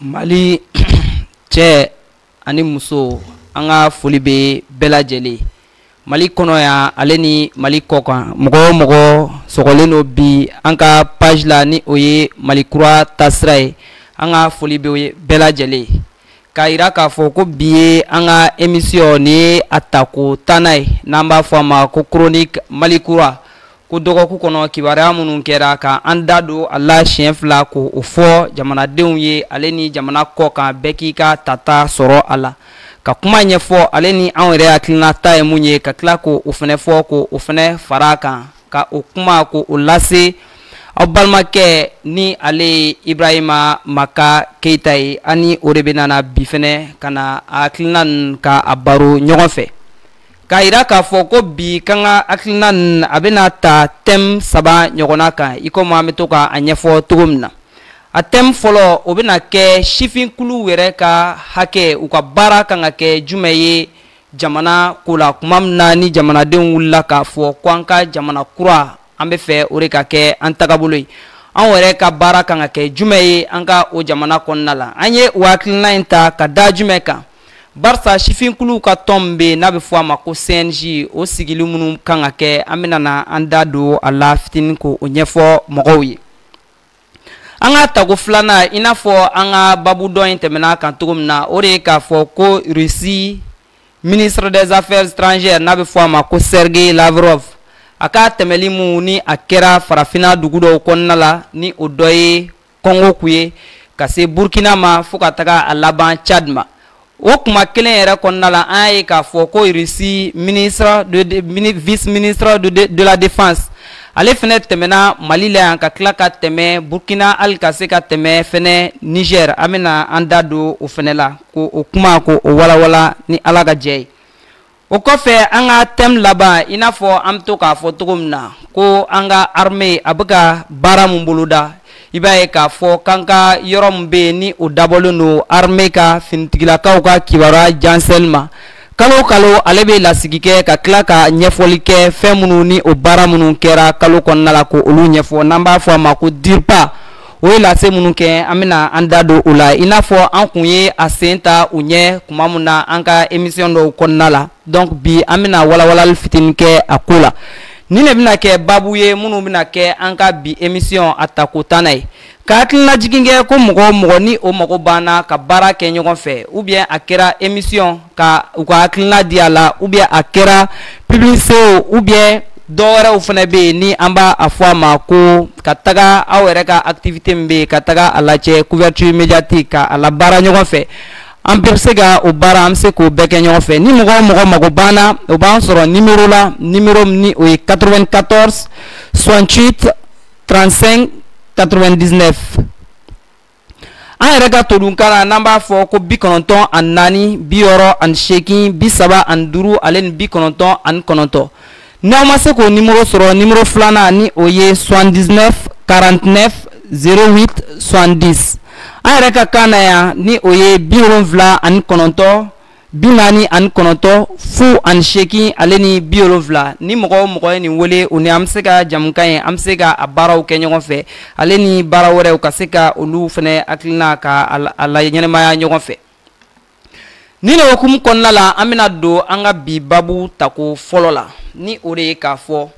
mali cɛ ani muso an ka foli bɛ bɛɛ lajɛlen mali kɔnɔ yan ale ni mali kɔ kan mɔgɔ o mɔgɔ sɔgɔlen don bi an ka page la ni o ye mali kura taasira ye an ka foli bɛ bɛɛ lajɛlen k'a yira k'a fɔ ko bi ye an ka emisiyɔn ni ye a tako tannan ye n'an b'a fɔ a ma ko chronique mali kura ko dɔgɔkun kɔnɔ kibaruya minnu kɛra ka an da don a la siɲɛ fila k'o fɔ jamanadenw ye ale ni jamana kɔ kan bɛɛ k'i ka tata sɔrɔ a la ka kuma ɲɛfɔ ale ni anw yɛrɛ hakilina ta ye mun ye ka tila k'o fɛnɛ fɔ k'o fɛnɛ fara a kan ka o kuma k'o lase aw balimakɛ ni ale ye ibrahima maka keyita ye ani o de bɛna bi fɛnɛ ka na a hakilina ninnu ka a baro ɲɔgɔn fɛ k'a yira k'a fɔ ko bi k'an ka hakilina ninnu a bɛna ta tɛmu saba ɲɔgɔnna kan i komi an bɛ to ka a ɲɛfɔ cogo min na a tɛmu fɔlɔ o bɛna kɛ sifinkulu yɛrɛ ka hakɛ u ka baara kan ka kɛ jumɛn ye jamana ko la kuma min na ni jamanadenw wulila k'a fɔ ko an ka jamana kura an bɛ fɛ o de ka kɛ an tagabolo ye an yɛrɛ ka baara kan ka kɛ jumɛn ye an ka o jamana kɔnɔna la an ye o hakilina in ta ka da jumɛn kan barisa sifinkuluw ka tɔn min bɛ yen n'a bɛ fɔ a ma ko cnj o sigili minnu kan ka kɛ an bɛna na an da don a la fitinin k'o ɲɛfɔ mɔgɔw ye an ka tako filanan i n'a fɔ an ka baabu dɔ in tɛmɛna a kan cogo min na o de ye k'a fɔ ko russie ministre des affaires étrangères n'a bɛ fɔ a ma ko sergei lavrov a ka tɛmɛli minnu ni a kɛra farafinna dugu dɔw kɔnɔna la ni o dɔ ye kɔngo kun ye ka se burkina ma fo ka taga a laban tchad ma o kuma kelen yɛrɛ kɔnɔna la an y'a ye k'a fɔ ko irisi ministre de, de mini, vice ministre de, de, de la défense ale fɛnɛ tɛmɛna mali la yan ka tila ka tɛmɛ burkina hali ka se ka tɛmɛ fɛnɛ niger an bɛna an da don o fɛnɛ la k'o kuma k'o walawala ni ala ka jɛ ye o kɔfɛ an ka tɛmu laban i n'a fɔ an bɛ to k'a fɔ cogo min na ko an ka arme a bɛ ka baara min boloda i b'a ye k'a fɔ k'an ka yɔrɔ min bɛ yen ni o dabɔlen don arme ka finitigilakaw ka kibaruya jɛnsɛnni ma kalo kalo ale bɛ lasigi kɛ ka tila ka ɲɛfɔli kɛ fɛn minnu ni o baara minnu kɛra kalo kɔnɔna la k'olu ɲɛfɔ n'an b'a fɔ a ma ko dirpa o ye lase minnu kɛ an bɛna an da don o la i n'a fɔ an kun ye a sen ta u ɲɛ kuma min na an ka emisiyɔn dɔw kɔnɔna la donc bi an bɛna walawalali fitinin kɛ a ko la nin de bɛna kɛ baabu ye minnu bɛna kɛ an ka bi emisiyɔn a tako tannan ye ka hakililajigin kɛ ko mɔgɔ o mɔgɔ ni o mago b'an na ka baara kɛ ɲɔgɔn fɛ ou bien a kɛra emisiyɔn ka u ka hakilina di a la ou bien a kɛra publicité o ou bien dɔ wɛrɛw fana bɛ yen ni an b'a a fɔ a ma ko ka taga aw yɛrɛ ka activité min bɛ yen ka taga a lajɛ couverture médiatique ka a labaara ɲɔgɔn fɛ an bɛɛ bɛ se ka o baara an bɛ se k'o bɛɛ kɛ ɲɔgɔn fɛ ni mɔgɔ o mɔgɔ mago b'an na o b'an sɔrɔ nimero la nimero min ni o ye 94 68 35 99 an yɛrɛ ka todunkan na n'an b'a fɔ ko bi kɔnɔntɔn ani naani bi wɔɔrɔ ani seegin bi saba ani duuru ale ni bi kɔnɔntɔn ani kɔnɔntɔn n'aw ma se k'o nimoro sɔrɔ nimoro filanan ni o ye 79 49 08 70 an yɛrɛ ka kan na yan ni o ye bi wolonwula ani kɔnɔntɔn bi naani ani kɔnɔntɔn fu ani seegin ale ni bi wolonfila ni mɔgɔ o mɔgɔ ye nin wele o ni an bɛ se ka jamukan ye an bɛ se ka a baaraw kɛ ɲɔgɔn fɛ ale ni baara wɛrɛw ka se ka olu fana hakilina ka a laɲɛnamaya ɲɔgɔn fɛ nin de hukumu kɔnɔna la an bɛna don an ka bi babu tako fɔlɔ la ni o de ye k'a fɔ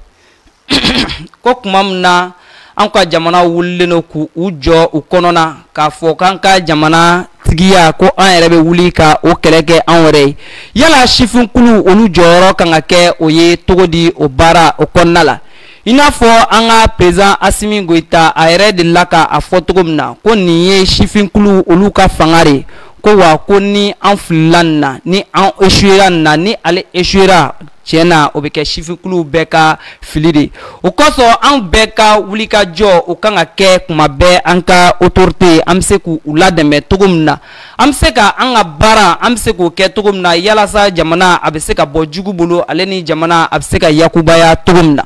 ko kuma min na an ka jamana wulilen don k'u u jɔ u kɔnɔna k'a fɔ k'an ka jamana tigiya ko an yɛrɛ bɛ wuli ka o kɛlɛ kɛ an yɛrɛ ye yala sifinkulu olu jɔyɔrɔ kan ka kɛ o ye cogo di o baara o kɔnɔna la i n'a fɔ an ka président asimi goyita a yɛrɛ delila ka a fɔ cogo min na ko nin ye sifinkulu olu ka fanga de ye ko wa ko ni an filila nin na ni an échouera nin na ni ale échouera tiɲɛ na o bɛ kɛ sifinkuluw bɛɛ ka fili de o kosɔn anw bɛɛ ka wulikajɔ o kan ka kɛ kuma bɛɛ an ka autorité an bɛ se k'u ladɛmɛ cogo min na an bɛ se ka an ka baara an bɛ se k'o kɛ cogo min na yalasa jamana a bɛ se ka bɔ jugu bolo ale ni jamana a bɛ se ka yakubaya cogo min na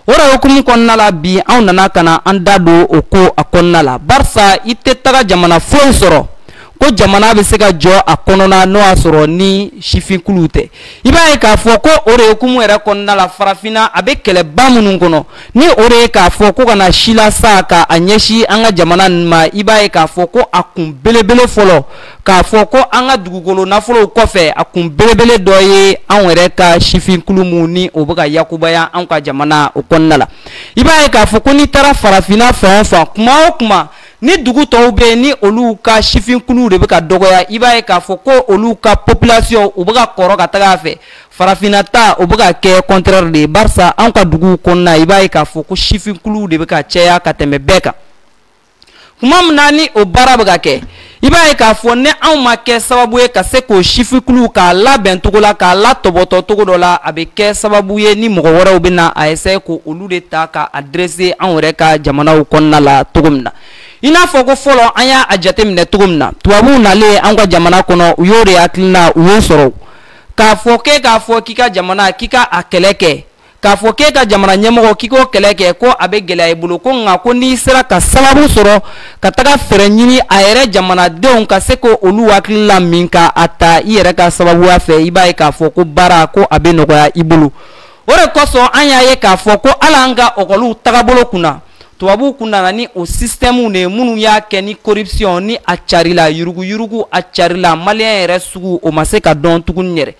o de hukumu kɔnɔna la bi anw nana ka na an da don o ko a kɔnɔna la barisa i tɛ taga jamana foyi sɔrɔ ko jamana bɛ se ka jɔ a kɔnɔna n'o y'a sɔrɔ ni sifinkuluw tɛ i b'a ye k'a fɔ ko o de hukumu yɛrɛ kɔnɔna la farafinna a bɛ kɛlɛba minnu kɔnɔ ni o de ye k'a fɔ ko ka na silasa ka a ɲɛsin an ka jamana ninnu ma i b'a ye k'a fɔ ko a kun belebele fɔlɔ k'a fɔ ko an ka dugukolo nafolow kɔfɛ a kun belebele dɔ ye anw yɛrɛ ka sifinkulu minnu ni o bɛ ka yakubaya anw ka jamana o kɔnɔna la i b'a ye k'a fɔ ko n'i taara farafinna fan o fan kuma o kuma ni dugu tɔw bɛ yen ni olu ka sifinkuluw de bɛ ka dɔgɔya i b'a ye k'a fɔ ko olu ka population u bɛ ka kɔrɔ ka taga a fɛ farafinna ta o bɛ ka kɛ contraire de ye barisa anw ka duguw kɔnɔna i b'a ye k'a fɔ ko sifinkuluw de bɛ ka caya ka tɛmɛ bɛɛ kan. kuma min na ni o baara bɛ ka kɛ i b'a ye k'a fɔ ni anw ma kɛ sababu ye ka se k'o sifinkuluw k'a labɛn cogo la k'a latɔbɔtɔ cogo dɔ la a bɛ kɛ sababu ye ni mɔgɔ wɛrɛw bɛ na a essayer ko olu de ta ka a dresser anw yɛrɛ ka jamanaw kɔnɔna la cogo min na i n'a fɔ ko fɔlɔ an y'a jateminɛ cogo min na tubabuw nalen an ka jamana kɔnɔ u y'o de hakilina u y'o sɔrɔ k'a fɔ k'e k'a fɔ k'i ka jamana k'i ka a kɛlɛ kɛ k'a fɔ k'e ka jamana ɲɛmɔgɔ k'i k'o kɛlɛ kɛ ko a bɛ gɛlɛya i bolo ko nka ko n'i sera ka sababu sɔrɔ ka taga fɛɛrɛ ɲini a yɛrɛ jamanadenw ka se ko olu hakili la min ka a ta i yɛrɛ ka sababuya fɛ i b'a ye k'a fɔ ko baara ko a bɛ nɔgɔya i bolo o de kosɔn an y'a ye k'a fɔ ko hali an ka ɔkɔliw tagabolo kunna tubabuw kun nana ni o sisitɛmuw de ye minnu y'a kɛ ni corruption ni a carila yuruguyurugu a carila maliyɛn yɛrɛ sugu o ma se ka dɔn tuguni yɛrɛ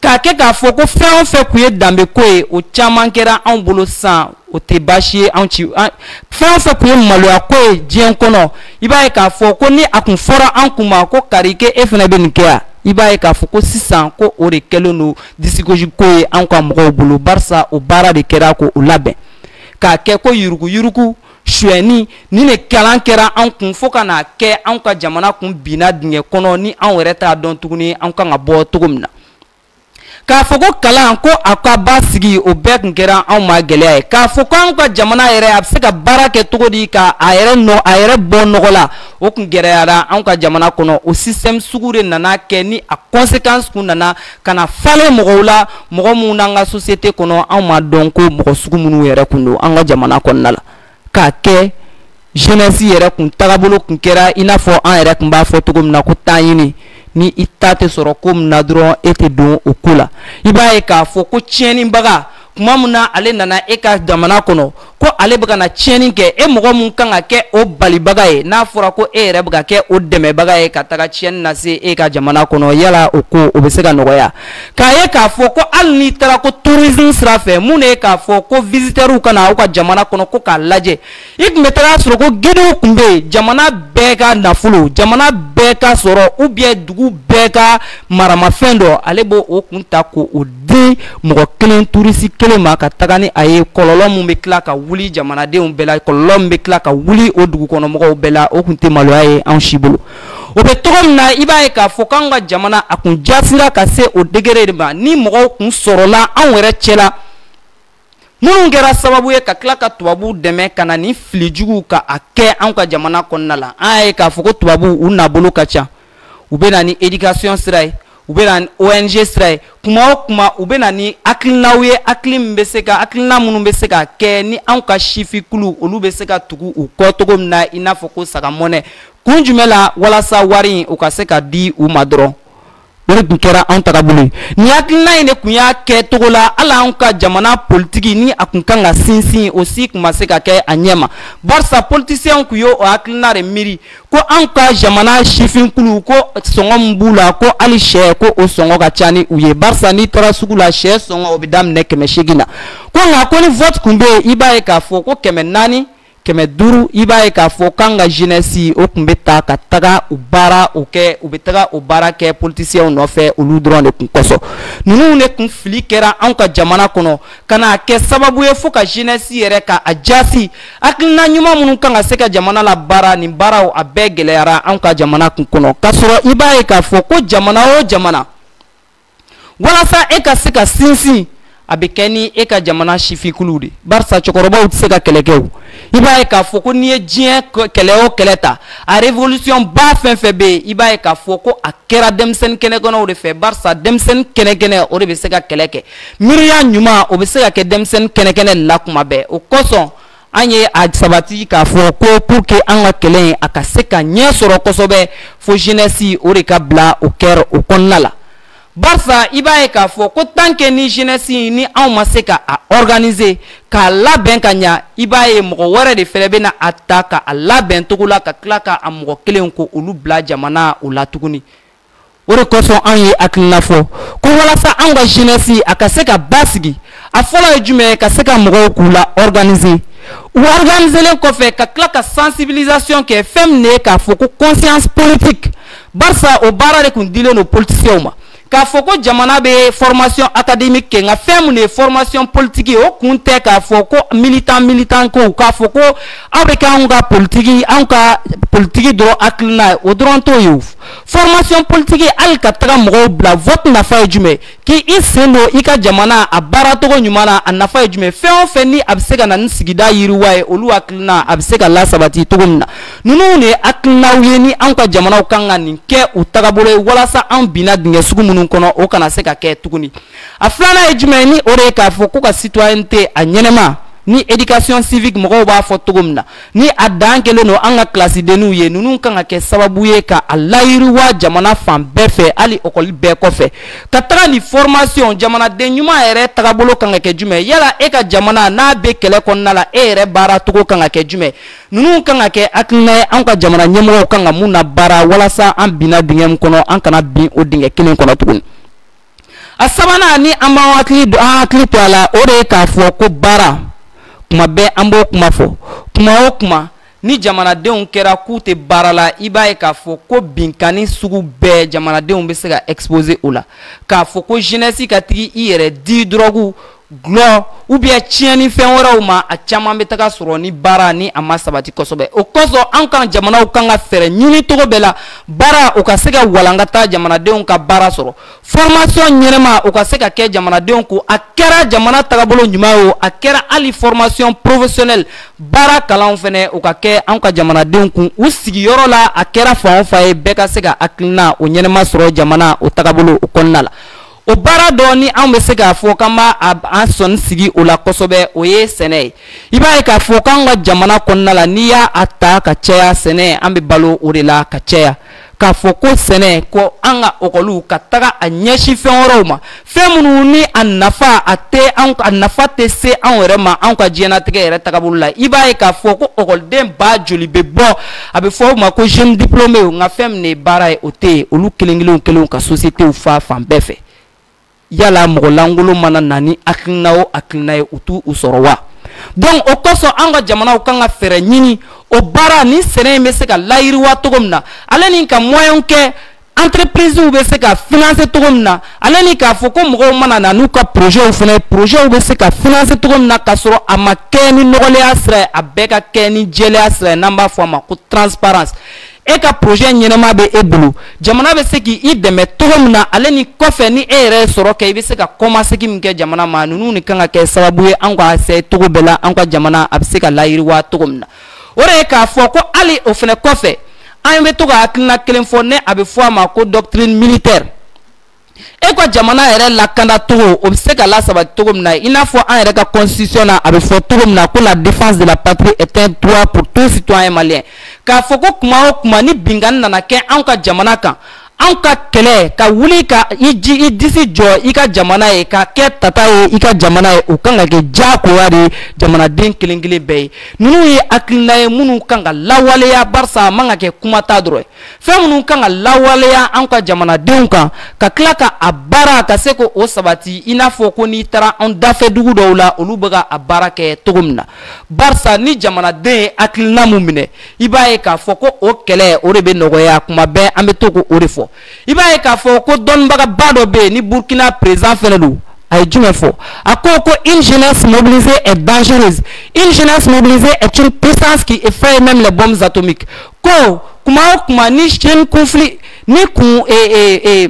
k'a kɛ k'a fɔ ko fɛn o fɛn kun ye danbe ko ye o caman kɛra anw bolo sisan o tɛ baasi ye anw ci fɛn o fɛn kun ye maloya ko ye diɲɛ kɔnɔ i b'a ye k'a fɔ ko ni a kun fɔra an kun ma ko karikɛ e fana bɛ nin kɛ yan i b'a ye k'a fɔ ko sisan ko o de kɛlen don disigosi ko ye anw ka mɔgɔw bolo barisa o baara de kɛra ko o labɛn k'a kɛ ko yurugu-yurugu suɲɛni nin de kalan kɛra an kun fo ka n'a kɛ an ka jamana kun binna dingɛ kɔnɔ ni an yɛrɛ t'a dɔn tuguni an kan ka bɔ cogo min na k'a fɔ ko kalanko a ka basigi o bɛɛ kun kɛra anw ma gɛlɛya ye k'a fɔ ko anw ka jamana yɛrɛ a bɛ se ka baara kɛ cogo di ka a yɛrɛ nɔ a yɛrɛ bɔ nɔgɔ la o kun gɛlɛyara anw ka jamana kɔnɔ o système sugu de nana kɛ ni a conséquence kun nana ka na falen mɔgɔw la mɔgɔ minnu n'an ka société kɔnɔ anw ma dɔn ko mɔgɔ sugu minnu yɛrɛ kun don an ka jamana kɔnɔna la k'a kɛ jeunesse yɛrɛ kun tagabolo kun kɛra i n'a fɔ an yɛrɛ kun b'a fɔ cogo min na ko ta ɲini ni i ta tɛ sɔrɔ ko min na dɔrɔn e tɛ don o ko la i b'a ye k'a fɔ ko tiɲɛnibaga kuma min na ale nana e ka jamana kɔnɔ ko ale bɛ ka na tiɲɛni kɛ e mɔgɔ min kan ka kɛ o balibaga ye n'a fɔra ko e yɛrɛ bɛ ka kɛ o dɛmɛbaga ye ka taga tiɲɛni lase e ka jamana kɔnɔ yala o ko o bɛ se ka nɔgɔya k'a ye k'a fɔ ko hali n'i taara ko tourisme sira fɛ mun de ye k'a fɔ ko visiteurs ka na aw ka jamana kɔnɔ ko k'a lajɛ i kun bɛ taga sɔrɔ ko guidew kun bɛ yen jamana bɛɛ ka nafolo jamana bɛɛ ka sɔrɔ ou bien dugu bɛɛ ka maramafɛn dɔ ale b'o o kun ta ko o di mɔgɔ kelen touriste kelen ma ka taga ni a ye kɔlɔlɔ min bɛ tila ka wuli jamanadenw bɛɛ la kɔlɔlɔ min bɛ tila ka wuli o dugukɔnɔmɔgɔw bɛɛ la o kun tɛ maloya ye anw si bolo o bɛ cogo min na i b'a ye k'a fɔ k'anw ka jamana a kun jasira ka se o degré de ma ni mɔgɔw kun sɔrɔla anw yɛrɛ cɛla minnu kɛra sababu ye ka tila ka tubabuw dɛmɛ ka na ni fili juguw ka a kɛ anw ka jamana kɔnɔna la an y'a ye k'a fɔ ko tubabuw u nabolo ka ca u bɛ na ni edikasiyɔn sira ye u bɛ na ni ong sira ye kuma o kuma u bɛ na ni hakilinaw ye hakili min bɛ se ka hakilina minnu bɛ se ka kɛ ni anw ka sifinkulu olu bɛ se ka tugu u kɔ cogo min na i n'a fɔ ko sagamɔnɛ kun jumɛn la walasa wari in u ka se ka di u ma dɔrɔn o de kun kɛra anw tagabolo ye nin hakilina in de kun y'a kɛ cogo la hali anw ka jamana politiki ni a kun kan ka sinsin o si kun ma se ka kɛ a ɲɛ ma barisa politisiyɛnw kun y'o hakilina de miiri ko anw ka jamana sifinkulu ko sɔngɔ min b'u la ko hali sɛ ko o sɔngɔ ka ca ni u ye barisa n'i taara sugu la sɛ sɔngɔ o bɛ daminɛ kɛmɛ seegin na ko nka ko ni vote kun bɛ yen i b'a ye k'a fɔ ko kɛmɛ naani kɛmɛ duuru i b'a ye k'a fɔ k'an ka jeunesse o kun bɛ ta ka taga o baara o kɛ u bɛ taga o baara kɛ politiciens nɔfɛ olu dɔrɔn de kun kosɔn ninnu de kun fili kɛra anw ka jamana kɔnɔ ka n'a kɛ sababu ye fo ka jeunesse yɛrɛ ka a jaasi hakilina ɲuman minnu kan ka se ka jamana labaara nin baaraw a bɛɛ gɛlɛyara anw ka jamana kun kɔnɔ k'a sɔrɔ i b'a ye k'a fɔ ko jamana o jamana walasa e ka se ka sinsin a bɛ kɛ ni e ka jamana sifinkuluw de barisa cɛkɔrɔbaw tɛ se ka kɛlɛ kɛ o i b'a ye k'a fɔ ko n'i ye diɲɛ kɛlɛ o kɛlɛ ta a révolution ba fɛn fɛn bɛ yen i b'a ye k'a fɔ ko a kɛra denmisɛnnin kɛnɛkɛnɛw de fɛ barisa denmisɛnnin kɛnɛkɛnɛ o de bɛ se ka kɛlɛ kɛ miiriya ɲuman o bɛ se ka kɛ denmisɛnnin kɛnɛkɛnɛ la kuma bɛɛ o kosɔn an ye a sabati k'a fɔ ko pour que an ka kɛlɛ in a ka se ka ɲɛ sɔrɔ kosɛbɛ fo jeunesse o de ka bila o kɛlɛ o kɔnɔna la barisa i b'a ye k'a fɔ ko tant que ni jeunesse in ni anw ma se ka a organiser k'a labɛn ka ɲa i b'a ye mɔgɔ wɛrɛ de fɛnɛ bɛna a ta ka a labɛn cogo la ka tila ka a mɔgɔ kelenw ko olu bila jamana o la tuguni o de kosɔn an ye hakilina fɔ ko walasa anw ka jeunesse a ka se ka basigi a fɔlɔ ye jumɛn ye ka se ka mɔgɔw k'u la organiser u organiselen kɔfɛ ka tila ka sensibilisation kɛ fɛn min ye k'a fɔ ko conscience politique barisa o baara de kun dilen don politicienw ma k'a fɔ ko jamana bɛ formation académique kɛ nka fɛn min ye formation politique ye o kun tɛ k'a fɔ ko militant militant ko k'a fɔ ko aw bɛ kɛ anw ka politiki anw ka politiki dɔrɔn hakilina ye o dɔrɔn t'o ye o formation politique hali ka taga mɔgɔw bila vote nafa ye jumɛn k'i sen don i ka jamana a baaracogo ɲuman na a nafa ye jumɛn fɛn o fɛn ni a bɛ se ka na ni sigida yiriwa ye olu hakilina a bɛ se ka lasabati cogo min na ninnu de ye hakilinaw ye ni anw ka jamanaw kan ka nin kɛ u tagabolo ye walasa anw binna dingɛ sugu minnu kɔnɔ o kana se ka kɛ tuguni a filanan ye jumɛn ni o de ye k'a fɔ ko ka citoyenneté a ɲɛnama ni éducation civique mɔgɔw b'a fɔ cogo min na ni a dan kɛlen don an ka kilasidenniw ye ninnu kan ka kɛ sababu ye ka a layiriwa jamana fan bɛɛ fɛ hali ɔkɔli bɛɛ kɔfɛ ka taga ni fɔrmasiyɔn jamanaden ɲuman yɛrɛ tagabolo kan ka kɛ jumɛn yala e ka jamana n'a bɛ kɛlɛ kɔnɔna la e yɛrɛ baara cogo kan ka kɛ jumɛn ninnu kan ka kɛ hakilina ye anw ka jamana ɲɛmɔgɔw kan ka mun na baara walasa an binna dingɛ min kɔnɔ an kana bin o dingɛ kelen kɔnɔ tuguni a sabanan ni an b'an hakili an hakili to a la o de ye k'a fɔ ko baara kuma bɛɛ an b'o kuma fɔ kuma o kuma ni jamanadenw kɛra k'u tɛ baara la i b'a ye k'a fɔ ko binkanni sugu bɛɛ jamanadenw bɛ se ka exposer o la k'a fɔ ko jeunesse ka taga i yɛrɛ di dɔrɔgu gulɔ ou bien tiɲɛni fɛn wɛrɛw ma a caman bɛ taga sɔrɔ ni baara ni a ma sabati kosɛbɛ o kosɔn an ka jamanaw kan ka fɛɛrɛ ɲini cogo bɛɛ la baara o ka se ka walankata jamanadenw ka baara sɔrɔ fɔrmasiyɔn ɲɛnɛma o ka se ka kɛ jamanadenw kun a kɛra jamana tagabolo ɲuman ye o a kɛra hali fɔrmasiyɔn porofesiyɔnɛli baara kalanw fɛnɛ o ka kɛ an ka jamanadenw kun u sigiyɔrɔ la a kɛra fan o fan ye bɛɛ ka se ka hakilina o ɲɛnɛma sɔrɔ jamana o tagabolo o kɔnɔna la o baara dɔ ni an bɛ se k'a fɔ k'an b'an sɔnin sigi o la kosɛbɛ o ye sɛnɛ ye i b'a ye k'a fɔ k'an ka jamana kɔnɔna la n'i y'a ta ka caya sɛnɛ an bɛ balo o de la ka caya k'a fɔ ko sɛnɛ ko an ka ɔkɔliw ka taga a ɲɛsin fɛn wɛrɛw ma fɛn minnu ni a nafa a tɛ a nafa tɛ se anw yɛrɛ ma anw ka diɲɛnatigɛ yɛrɛ tagabolo la i b'a ye k'a fɔ ko ɔkɔliden ba joli bɛ bɔ a bɛ fɔ o ma ko jeune diplômé nka fɛn min de ye baara ye o tɛ yen olu kelen kelenw kɛlenw ka sociétéw fa fan bɛɛ fɛ yala mɔgɔ lankolon mana na ni hakilina o hakilina ye u t'u sɔrɔ wa donc o kosɔn an ka jamanaw kan ka fɛɛrɛ ɲini o baara ni sɛnɛ in bɛ se ka layiriwa cogo min na ale ni ka moyen kɛ entreprises bɛ se ka financer cogo min na ale ni k'a fɔ ko mɔgɔw mana na n'u ka projets fana ye projets bɛ se ka financer cogo min na k'a sɔrɔ a ma kɛ ni nɔgɔlenya sira ye a bɛɛ ka kɛ ni jɛlenya sira ye n'an b'a fɔ a ma ko transparence e ka projet ɲɛnama bɛ e bolo jamana bɛ se k'i dɛmɛ cogo min na ale ni kɔfɛ ni e yɛrɛ ye sɔrɔ kɛ i bɛ se ka kɔmasegin min kɛ jamana ma ninnu de kan ka kɛ sababu ye an ka se cogo bɛɛ la an ka jamana a bɛ se ka layiriwa cogo min na o de ye k'a fɔ ko hali o fɛnɛ kɔfɛ an bɛ to ka hakilina kelen fɔ ni a bɛ fɔ a ma ko doctrine militaire e ka jamana yɛrɛ lakanda cogo o bɛ se ka lasabati cogo min na i n'a fɔ an yɛrɛ ka constitution na a bɛ fɔ cogo min na ko la défense de la patrie est un droit pour tout citoyen malien k'a fɔ ko kuma o kuma ni binkanni nana kɛ anw ka jamana kan anw ka kɛlɛ ka wuli ka i ji i disi jɔ i ka jamana ye ka kɛ tata ye i ka jamana ye o kan ka kɛ diyagoya de jamanaden kelen kelen bɛɛ ye ninnu ye hakilina ye minnu kan ka lawaleya barisa a man ka kɛ kuma ta dɔrɔn ye fɛn minnu kan ka lawaleya anw ka jamanadenw kan ka tila ka a baara ka se k'o sabati i n'a fɔ ko n'i taara anw dafɛ dugu dɔw la olu bɛ ka a baara kɛ cogo min na barisa ni jamanaden ye hakilina mun minɛ i b'a ye k'a fɔ ko o kɛlɛ o de bɛ nɔgɔya kuma bɛɛ an bɛ to ko o de fɔ i b'a ye k'a fɔ ko dɔnnibagaba dɔ bɛ yen ni burkina président fɛnɛ don a ye jumɛn fɔ a ko ko une jeunesse mobilisée est dangereuse une jeunesse mobilisée est une puissance qui effraie même les bombes atomiques ko kuma o kuma ni jeune conflit ni kun ee ee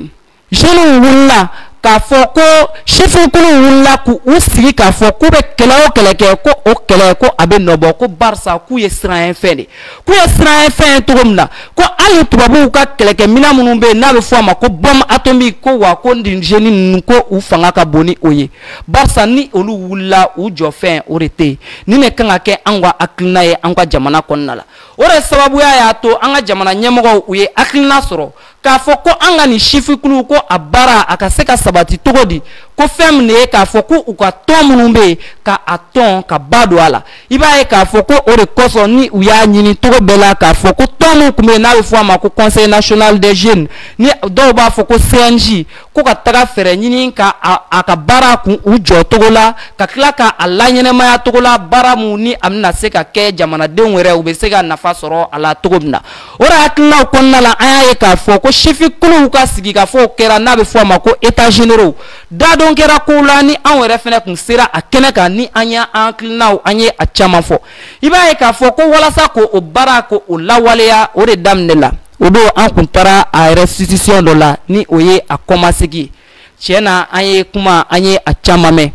jeunes wulila k'a fɔ ko sifinkulu wulila k'u sigi k'a fɔ k'u bɛ kɛlɛ o kɛlɛ kɛ ko o kɛlɛ ko a bɛ nɔbɔ ko barisa k'u ye siranyɛ fɛn de k'u ye siranyɛ fɛn ye cogo min na ko hali tubabuw ka kɛlɛkɛminɛn minnu bɛ yen n'a bɛ fɔ a ma ko bombe atomique ko wa ko nin jeunes ninnu ko u fanga ka bon ni o ye barisa ni olu wulila u jɔ fɛn o de tɛ yen nin de kan ka kɛ anw ka hakilina ye an ka jamana kɔnɔna la o de sababuya y'a to an ka jamana ɲɛmɔgɔw u ye hakilina sɔrɔ k'a fɔ ko an ka nin sifinkuluw ko a baara a ka se ka sabati cogo di ko fɛn min de ye k'a fɔ ko u ka tɔn minnu bɛ yen ka a tɔn ka ba don a la i b'a ye k'a fɔ ko o de kosɔn ni u y'a ɲini cogo bɛɛ la k'a fɔ ko tɔn min tun bɛ yen n'a bɛ fɔ a ma ko conseil national des jeunes ni dɔw b'a fɔ ko cnj ko ka taga fɛɛrɛ ɲini ka a ka baara kun u jɔ cogo la ka tila ka a laɲɛnɛmaya cogo la baara mun ni a bɛna se ka kɛ jamanadenw yɛrɛ u bɛ se ka nafa sɔrɔ a la cogo min na o de hakilinaw kɔnɔna la an y'a ye k'a fɔ ko sifinkuluw ka sigikafɔ o kɛra n'a bɛ fɔ a ma ko états généraux dadon kɛra kow la ni anw yɛrɛ fɛnɛ kun sera a kɛnɛ kan ni an y'an hakilinaw an ye a caman fɔ i b'a ye k'a fɔ ko walasa ko o baara ko o lawaleya o de daminɛ la o don an kun taara a restitution dɔ la ni o ye a kɔmasegi tiɲɛ na an ye kuma an ye a caman mɛn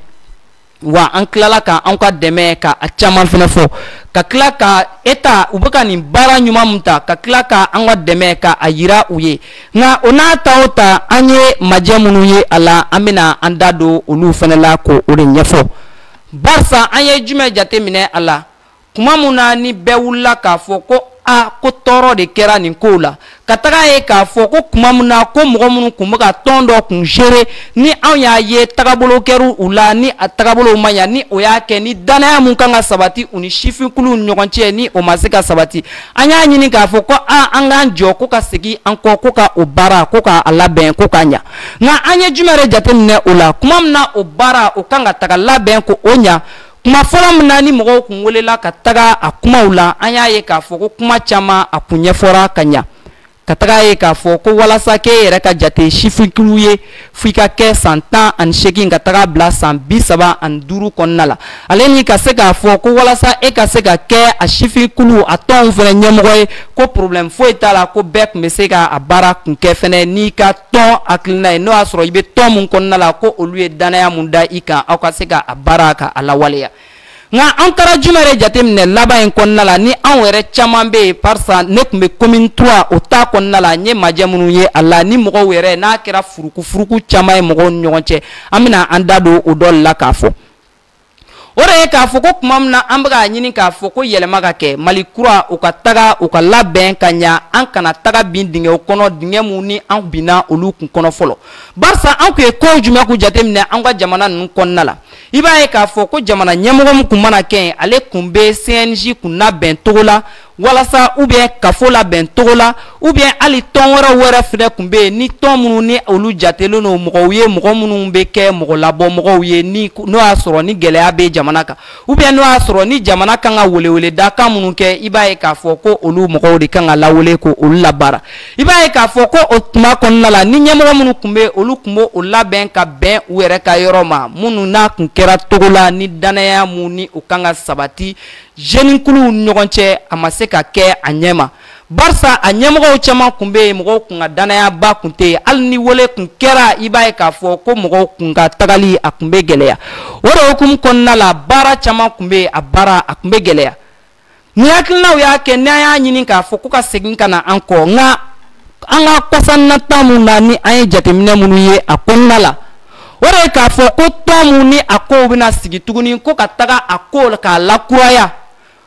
wa an tilala ka an ka dɛmɛ ka a caman fɛnɛ fɔ ka tila ka état u bɛ ka nin baara ɲuman min ta ka tila ka an ka dɛmɛ ka a yira u ye nka o n'a ta o ta an ye majɛ minnu ye a la an bɛna an da don olu fɛnɛ la ko o de ɲɛfɔ barisa an ye jumɛn jateminɛ a la kuma min na ni bɛɛ wulila k'a fɔ ko a ko tɔɔrɔ de kɛra nin kow la ka taga ye k'a fɔ ko kuma min na ko mɔgɔ minnu kun bɛ ka tɔn dɔ kun gere ni anw y'a ye tagabolo kɛra u la ni a tagabolow ma ɲa ni o y'a kɛ ni dannaya min kan ka sabati u ni sifinkuluw ni ɲɔgɔn cɛ ni o ma se ka sabati an y'a ɲini k'a fɔ ko a an k'an jɔ ko ka segin an kɔ ko ka o baara ko k'a labɛn ko k'a ɲa nka an ye jumɛn de jateminɛ o la kuma min na o baara o kan ka taga labɛn ko o ɲa kuma fɔlɔ min na ni mɔgɔw kun welela ka taga a kumaw la an y'a ye k'a fɔ ko kuma caman a kun ɲɛfɔra ka ɲa ka taga ye k'a fɔ ko walasa k'e yɛrɛ ka jate sifinkulu ye f'i ka kɛ san tan ani seegin ka taga bila san bi saba ani duuru kɔnɔna la ale ni ka se k'a fɔ ko walasa e ka se ka kɛ a sifinkulu a tɔnw fɛnɛ ɲɛmɔgɔ ye ko problème foyi t'a la ko bɛɛ kun bɛ se ka a baara kun kɛ fɛnɛ n'i ka tɔn hakilina ye n'o y'a sɔrɔ i bɛ tɔn mun kɔnɔna la ko olu ye dannaya mun da i kan aw ka se ka a baara ka a lawaleya nka an taara jumɛn yɛrɛ jateminɛ laban in kɔnɔna la ni anw yɛrɛ caman bɛ yen parisa ne kun bɛ commune trois o ta kɔnɔna la n ye majɛ minnu ye a la ni mɔgɔw yɛrɛ n'a kɛra furukufuruku caman ye mɔgɔw ni ɲɔgɔn cɛ an bɛna an da don o dɔ la k'a fɔ. o de ye k'a fɔ ko tuma min na an bɛ k'a ɲini k'a fɔ ko yɛlɛma ka kɛ mali kura u ka taga u ka labɛn ka ɲa an kana taga bin dingɛw kɔnɔ dingɛ minnu ni an binna olu kun kɔnɔ fɔlɔ barisa an kun ye kow jumɛn k'u jateminɛ an ka jamana ninnu kɔnɔna la i b'a ye k'a fɔ ko jamana ɲɛmɔgɔ min kun mana kɛ yen ale kun bɛ cnj kun labɛn cogo la walasa ou bien kafo labɛn cogo la ou bien hali tɔn wɛrɛw wɛrɛ fɛnɛ kun bɛ yen ni tɔn minnu ni olu jatelen don mɔgɔw ye mɔgɔ minnu bɛ kɛ mɔgɔ labɔ mɔgɔw ye ni n'o y'a sɔrɔ ni gɛlɛya bɛ jamana kan ou bien n'o y'a sɔrɔ ni jamana kan ka weleweleda kan minnu kɛ i b'a ye k'a fɔ ko olu mɔgɔw de kan ka lawele k'olu labaara i b'a ye k'a fɔ ko o tuma kɔnɔna la ni ɲɛmɔgɔ minnu kun bɛ olu kun b'o o labɛn ka bɛn u yɛrɛ ka yɔrɔ ma minnu n'a kun kɛra cogo la ni dannaya mun ni o kan ka sabati jeunikuluw ni ɲɔgɔn cɛ a ma se ka kɛ a ɲɛ ma barisa a ɲɛmɔgɔw caman kun bɛ yen mɔgɔw kun ka dannayaba kun tɛ yen hali ni wele kun kɛra i b'a ye k'a fɔ ko mɔgɔw kun ka tagali a kun bɛ gɛlɛya o de hukumu kɔnɔna la baara caman kun bɛ yen a baara a kun bɛ gɛlɛya ni hakilinaw y'a kɛ n'an y'a ɲini k'a fɔ ko ka segin ka na an kɔ nka an ka kɔsanna ta mun na ni an ye jateminɛ minnu ye a kɔnɔna la o de ye k'a fɔ ko tɔn mun ni a kow bɛna sigi tuguni ko ka taga a ko k'a lakuraya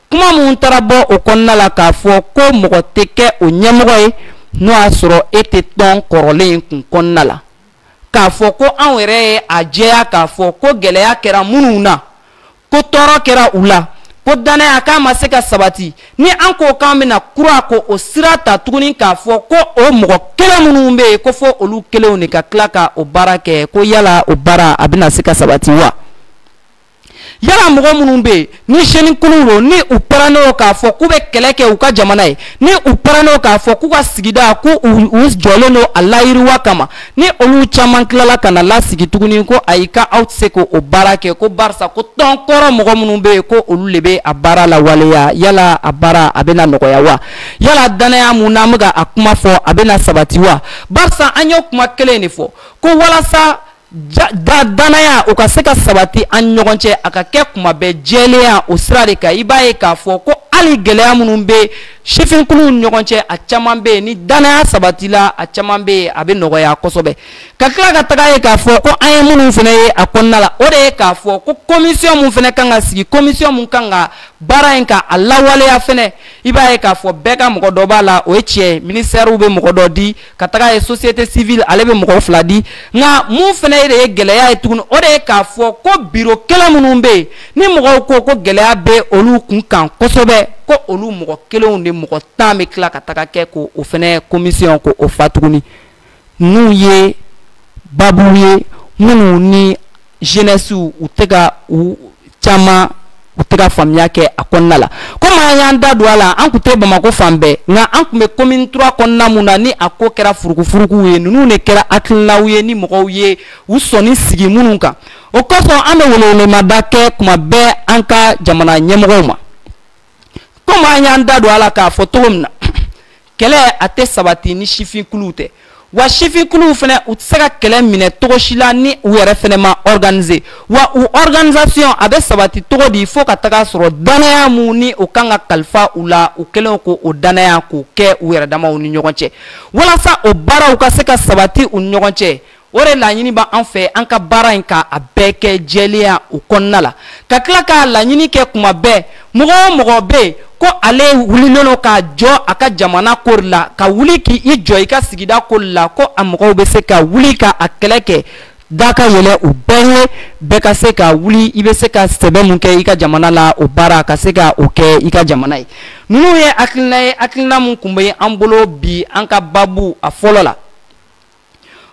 kuma min taara bɔ o kɔnɔna la k'a fɔ ko mɔgɔ tɛ kɛ o ɲɛmɔgɔ ye n'o y'a sɔrɔ e tɛ tɔn kɔrɔlen in kun kɔnɔna la k'a fɔ ko anw yɛrɛ ye a jɛya k'a fɔ ko gɛlɛya kɛra minnu na ko tɔɔrɔ kɛra u la ko dannaya k'a ma se ka sabati ni an ko k'an bɛna kura k'o sira ta tuguni k'a fɔ ko o mɔgɔ kelen minnu bɛ yen ko fo olu kelenw de ka tila ka o baara kɛ ko yala o baara a bɛna se ka sabati wa yala mɔgɔ minnu bɛ yen ni jeunikulu don ni u pɛrɛnnen don k'a fɔ k'u bɛ kɛlɛ kɛ u ka jamana ye ni u pɛrɛnnen don k'a fɔ k'u ka sigida k'u jɔlen don a layiriwa kama ni olu caman tilala ka na lasigi tuguni ko ayi ka aw tɛ se k'o baara kɛ ko barisa ko tɔn kɔrɔ mɔgɔ minnu bɛ yen ko olu de bɛ a baara lawaleya yala a baara a bɛna nɔgɔya wa yala danaya mun n'an bɛ ka a kuma fɔ a bɛna sabati wa barisa an y'o kuma kelen de fɔ ko walasa da danaya o ka se ka sabati an ɲɔgɔn cɛ a ka kɛ kuma bɛɛ jɛlenya o sira de kan i b'a ye k'a fɔ ko hali gɛlɛya minnu bɛ sifinkuluw ni ɲɔgɔn cɛ a caman bɛ yen ni danaya sabatila a caman bɛ yen a bɛ nɔgɔya kosɛbɛ ka tila ka taga ye k'a fɔ ko an ye minnu fana ye a kɔnɔna la o de ye k'a fɔ ko komisiyɔn mun fana kan ka sigi komisiyɔn mun kan ka baara in ka a lawaleya fana i b'a ye k'a fɔ bɛɛ ka mɔgɔ dɔ b'a la o ye tiɲɛ ye minisitɛriw bɛ mɔgɔ dɔ di ka taga ye société civile ale bɛ mɔgɔ fila di nka mun fana de ye gɛlɛya ye tuguni o de ye k'a fɔ ko biro kelen minnu bɛ yen ni mɔgɔw ko ko gɛlɛya bɛ olu kun kan kosɛbɛ ko olu mɔgɔ kelenw de mɔgɔ tan bɛ tila ka taga kɛ k'o fana commission k'o fa tuguni ninnu ye babu ye minnu ni jeunesse u tɛ ka u caman u tɛ ka faamuya kɛ a kɔnɔna la komi an y'an da don a la an tun tɛ bamakɔ fan bɛɛ nka an tun bɛ commune trois kɔnɔna mun na ni a ko kɛra furukufurukuw ye ninnu de kɛra hakilinaw ye ni mɔgɔw ye u sɔnni sigi minnu kan o kosɔn an bɛ welewelemada kɛ kuma bɛɛ an ka jamana ɲɛmɔgɔw ma komi an y'an da don a la k'a fɔ cogo min na kɛlɛ a tɛ sabati ni sifinkuluw tɛ wa sifinkuluw fana u tɛ se ka kɛlɛ minɛ cogo si la ni u yɛrɛ fana ma organiser wa u organisation a bɛ sabati cogo di fo ka taga a sɔrɔ danaya mun ni o kan ka kalifa u la u kelenw k'o danaya k'o kɛ u yɛrɛ damaw ni ɲɔgɔn cɛ walasa o baaraw ka se ka sabati u ni ɲɔgɔn cɛ o de laɲini b'an fɛ an ka baara in ka a bɛɛ kɛ jɛlenya o kɔnɔna la ka tila k'a laɲini kɛ kuma bɛɛ mɔgɔ o mɔgɔ bɛ yen ko ale wulilen don k'a jɔ a ka jamana ko la ka wuli k'i jɔ i ka sigida ko la ko a mɔgɔw bɛ se ka wuli ka a kɛlɛ kɛ da ka yɛlɛ u bɛɛ ye bɛɛ ka se ka wuli i bɛ se ka sɛbɛ mun kɛ i ka jamana la o baara ka se ka o kɛ i ka jamana ye ninnu ye hakilina ye hakilina min tun bɛ an bolo bi an ka babu a fɔlɔ la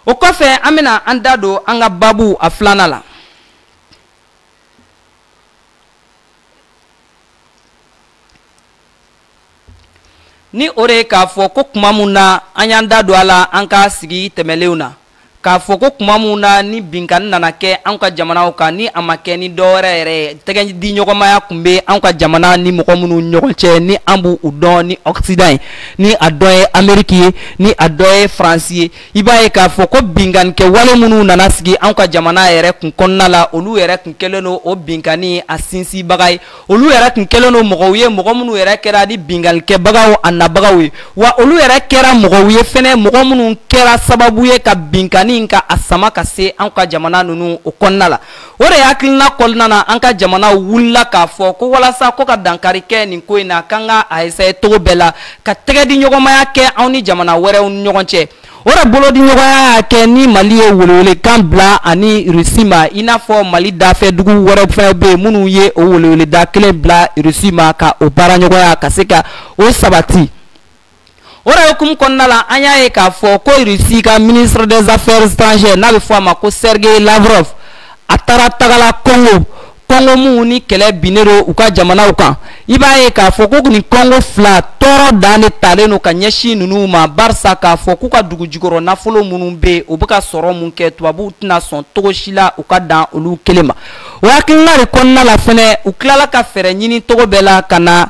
o kɔfɛ an bɛna an da don an ka babu a filanan la ni o de ye k'a fɔ ko kuma mun na an y'an da don a la an ka sigi tɛmɛlenw na k'a fɔ ko kuma mun na ni binkanni nana kɛ an ka jamanaw kan ni a ma kɛ ni dɔ wɛrɛ yɛrɛ ye tɛgɛdiɲɔgɔnmaya tun bɛ an ka jamana ni mɔgɔ minnu ɲɔgɔn cɛ ni an b'u dɔn ni ɔkisidan ye ni a dɔ ye ameriki ye ni a dɔ ye faransi ye i b'a ye k'a fɔ ko binkanikɛ wale minnu nana sigi anw ka jamana yɛrɛ kun kɔnɔna la olu yɛrɛ kun kɛlen don o binkanni a sinsinbaga ye olu yɛrɛ kun kɛlen don mɔgɔw ye mɔgɔ minnu yɛrɛ kɛra ni binkanikɛbagaw a nabagaw ye wa olu yɛrɛ kɛra mɔgɔw ye fɛnɛ mɔgɔ minnu kɛra sababu ye ka binkanni ka a sama ka se anw ka jamana ninnu o kɔnɔna la o de hakilina kɔnɔna na an ka jamana wulila k'a fɔ ko walasa ko ka dankari kɛ nin ko in na k'an ka a essaye cogo bɛɛ la ka tɛgɛ di ɲɔgɔnmaya kɛ anw ni jamana wɛrɛw ni ɲɔgɔn cɛ o de bolodiɲɔgɔnya y'a kɛ ni mali ye welewelekan bila ani rusi ma i n'a fɔ mali dafɛ dugu wɛrɛw fɛnɛ bɛ yen minnu ye o weleweleda kelen bila rusi ma ka o baaraɲɔgɔnya ka se ka o sabati o de hukumu kɔnɔna la an y'a ye k'a fɔ ko Russie ka ministre des affaires étrangères n'a bɛ fɔ a ma ko Sergei Lavrov a taara tagala Congo Congo minnu ni kɛlɛ binnen don u ka jamanaw kan i b'a ye k'a fɔ ko nin Congo fila tɔɔrɔ dan de talen don ka ɲɛsin ninnu ma barisa k'a fɔ k'u ka dugu jukɔrɔ nafolo minnu bɛ yen u bɛ ka sɔrɔ mun kɛ tubabuw tɛna sɔn cogo si la u ka dan olu kelen ma o hakilina de kɔnɔna la fɛnɛ u tilala ka fɛɛrɛ ɲini cogo bɛɛ la ka na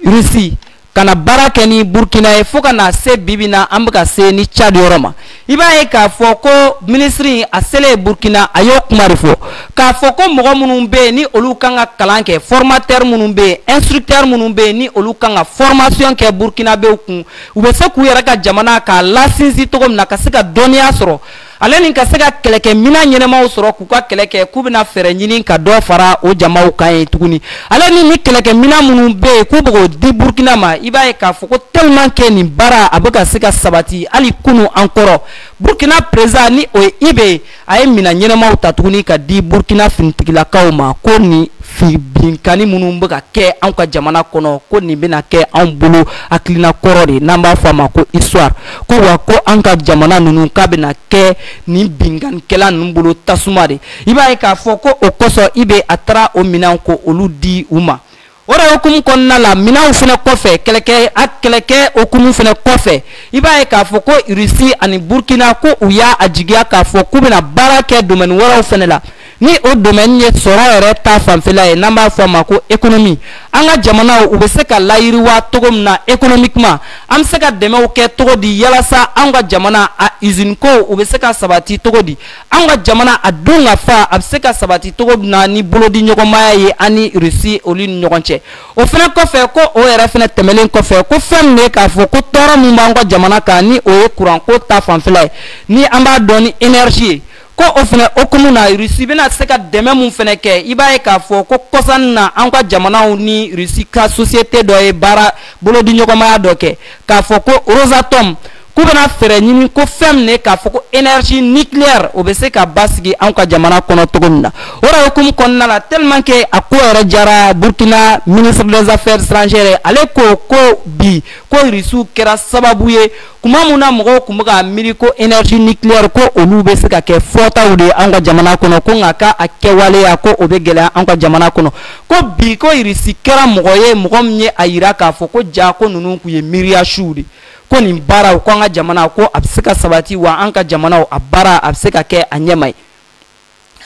Russie ka na baara kɛ ni burkina ye fo ka na se bibi in na an bɛ ka se nin cadi yɔrɔ ma i b'a ye k'a fɔ ko minisiri a selen ye burkina a y'o kuma de fɔ k'a fɔ ko mɔgɔ minnu bɛ yen ni olu kan ka kalan kɛ formateur minnu bɛ yen instructeur minnu bɛ yen ni olu kan ka fɔrmasiyɔn kɛ burkinabew kun u bɛ se k'u yɛrɛ ka jamana k'a lasinsin cogo min na ka se ka dɔnniya sɔrɔ ale ni ka se ka kɛlɛkɛminɛn ɲɛnamaw sɔrɔ k'u ka kɛlɛ kɛ k'u bɛna fɛɛrɛ ɲini ka dɔ fara o jamaw kan ye tuguni ale ni nin kɛlɛkɛminɛn minnu bɛ yen k'u bɛ k'o di burukina ma i b'a ye k'a fɔ ko tellement que nin baara a bɛ ka se ka sabati hali kunu an kɔrɔ burukina perezidan ni o ye ibe ye a ye minɛn ɲɛnamaw ta tuguni ka di burukina finitigilakaw ma ko nin binkanni minnu bɛ ka kɛ anw ka jamana kɔnɔ ko nin bɛna kɛ anw bolo hakilina kɔrɔ de n'an b'a fɔ a ma ko histoire ko wa ko an ka jamana ninnu k'a bɛna kɛ nin binkanikɛla ninnu bolo tasuma de i b'a ye k'a fɔ ko o kosɔn ibe a taara o minɛnw k'olu di u ma o de hukumu kɔnɔna la minɛnw fana kɔfɛ kɛlɛkɛ a kɛlɛkɛ hukumu fana kɔfɛ i b'a ye k'a fɔ ko rusi ani burukina ko u y'a a jigiya k'a fɔ k'u bɛna baara kɛ domɛni wɛrɛw fana la ni o domaine ye sɔrɔ yɛrɛ ta fanfɛla ye n'an b'a fɔ a ma ko économie an ka jamanaw u bɛ se ka layiriwa cogo min na économiquement an bɛ se ka dɛmɛw kɛ cogo di yalasa anw ka jamana a usine ko u bɛ se ka sabati cogo di anw ka jamana a dunkafa a bɛ se ka sabati cogo min na ni bolodi ɲɔgɔnmaya ye an ni Russie olu ni ɲɔgɔn cɛ o fana kɔfɛ ko o yɛrɛ fana tɛmɛlen kɔfɛ ko fɛn min ye k'a fɔ ko tɔɔrɔ min b'an ka jamana kan ni o ye kuranko ta fanfɛla ye ni an b'a dɔn ni énergie ye ko o fana hukumu na rusi bɛna se ka dɛmɛ min fana kɛ i b'a ye k'a fɔ ko kɔsa in na an ka jamanaw ni rusi ka société dɔ ye baara bolodiɲɔgɔnmaya dɔ kɛ k'a fɔ ko Rosatom k'u bɛna fɛɛrɛ ɲini ko fɛn min ye k'a fɔ ko énergie nucléaire o bɛ se ka basigi an ka jamana kɔnɔ cogo min na o de hukumu kɔnɔna la tellement que a ko yɛrɛ jara Burkina ministre des affaires étrangères ale ko ko bi ko Russie kɛra sababu ye tuma min na mɔgɔw tun bɛ ka miiri ko énergie nucléaire ko olu bɛ se ka kɛ fɔtaw de anw ka jamana kɔnɔ ko nka k'a kɛwaleya ko o bɛ gɛlɛya anw ka jamana kɔnɔ ko bi ko irisi kɛra mɔgɔ ye mɔgɔ min ye a yira k'a fɔ ko ja ko ninnu tun ye miiriya suw de ko nin baaraw ko an ka jamana ko a bɛ se ka sabati wa an ka jamanaw a baara a bɛ se ka kɛ a ɲɛma ye